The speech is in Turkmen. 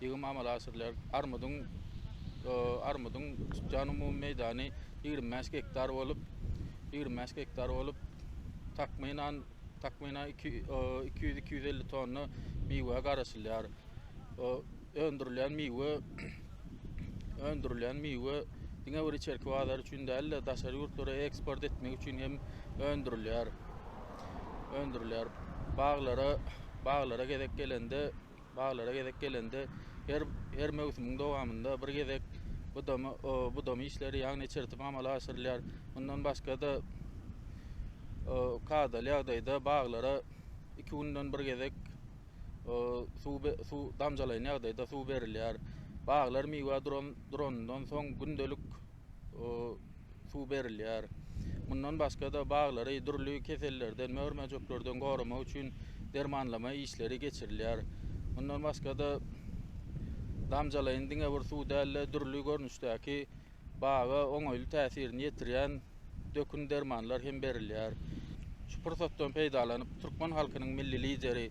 ýygym amala aşyrylýar. Armudyň armudyň çykýan umumy meýdany ýigrimi bäş gektar bolup, ýigrimi bäş gektar bolup, takmynan takmynan iki iki ýüz iki ýüz elli tonna miwe garaşylýar. Öndürilýän miwe öndürilýän miwe diňe bir içerki bazar üçin däl-de, daşary ýurtlara eksport etmek üçin hem öndürilýär. Öndürilýär. Baglara baglara gezek gelende Baglara gezek gelende her her möwsümiň dowamynda bir gezek budama budama işleri ýagny içertip amala aşyrylýar. Mundan başga-da kadaly ýagdaýda baglara iki günden bir gezek suw suw damjalaýyn ýagdaýda suw berilýär. Baglar miwe duran duranyndan soň gündelik suw berilýär. Mundan başga-da, baglary dürli kesellerden, mör-möjeklerden goramak üçin dermanlama işleri geçirilýär. Mundan başga-da, damjalaýyn diňe bir suw däl-de, dürli görnüşdäki baga oňaýly täsirini ýetirýän dökün dermanlar hem berilýär. Şu pursatdan peýdalanyp, türkmen halkynyň Milli Lideri